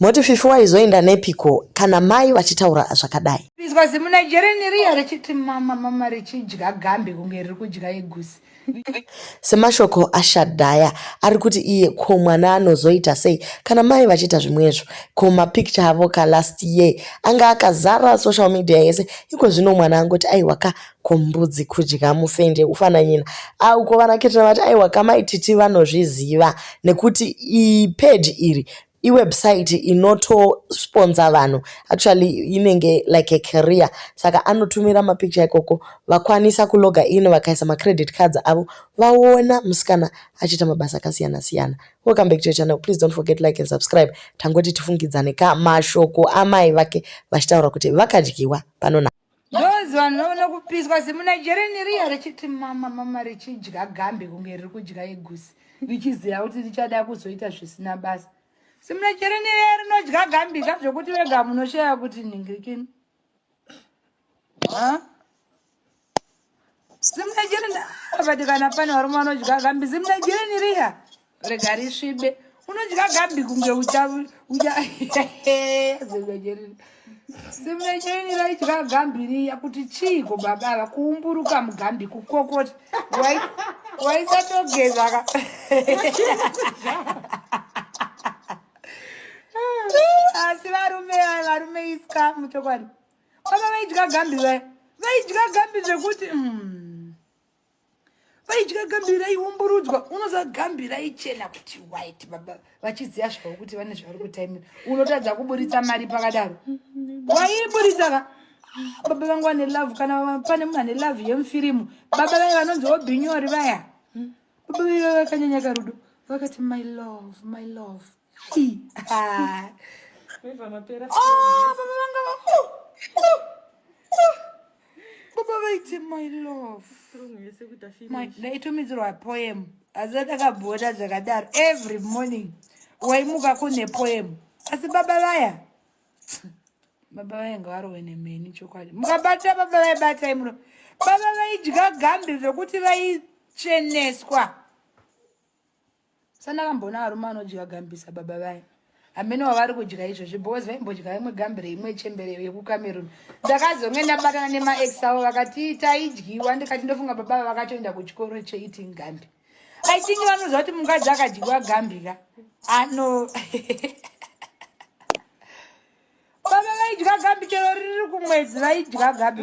Moti fifi waizoenda nepiko kana mai vachitaura zvakadai. Izwa zimu Nigerian riya richiti mama mama richidya gambi kunge riri kudya igusi. Semashoko aShadhaya ari kuti iye ko mwana anozoita sei kana mai vachiita zvimwezvo. Ko mapicture avo ka last year anga akazara social media yese iko zvino mwana angoti aiwa ka kombudzi kudya mufende ufananyina ah, uko vanaketana vati aiwa kamaititi vanozviziva nekuti ipage iri iwebsite inotosponsa vanhu actually inenge like a career saka anotumira mapicture ikoko vakwanisa kuloga in vakaisa macredit cards avo vaona musikana achiita mabasa akasiyana siyana welcome back to your channel please don't forget like and subscribe tangoti tifungidzane ka mashoko amai vake vachitaura kuti vakadyiwa panona Those vanhu vaona kupiswa zimunigerian riya richiti mama mama richidya gambe kunge riri kudya igusi richiziva kuti richada kuzoita zvisina basa zimunigerian riya rinodya gambika zvekuti vega munoshaya kuti ningirikini zimnajerenabati kana pane varume vanodya gambi zimnajereni riya rega risvibe unodya gambi kunge uchazimnajereni zimnajereni raidya gambi riya kuti chiiko baba ava kuumburuka mugambi kukokota waisatogezaka asi varume varume iska muchokwadi baba vaidya gambi vaya vaidya gambi zvekuti mm. vaidya gambi raiumburudzwa unoza gambi raichena kuti white baba vachiziva zvavo kuti vane zvavari kutaimira unotadza kuburitsa mari pakadaro waiburitsa ka baba vangu vane love kana pane munhu ane love yemufirimu baba vaye vanonzi obinyori vaya baba vaye vakanyanya karudo vakati my love my love baba vaiti my love ndaitumidzirwa poem asi atakabhoda zvakadaro every morning waimuka kune poem asi baba vaya baba vaye ngavarove nemheni chokwadi mukabata baba vaye batai muno baba vaidya gambi zvekuti vaitsveneswa sandakamboona varume vanodya gambi sababa vaya hameno wavari kudya izvozvi because vaimbodya imwe gambi reimwe chembere yekucameroon ndakazonge ndabatana nemaex avo vakati taidyiwa ndikati ndofunga baba va vakatoenda kuchikoro cheeating gambi i think vanoziva kuti mukadzi akadyiwa gambi ka ano baba vaidya gambi chero riri kumwedzi vaidya gambi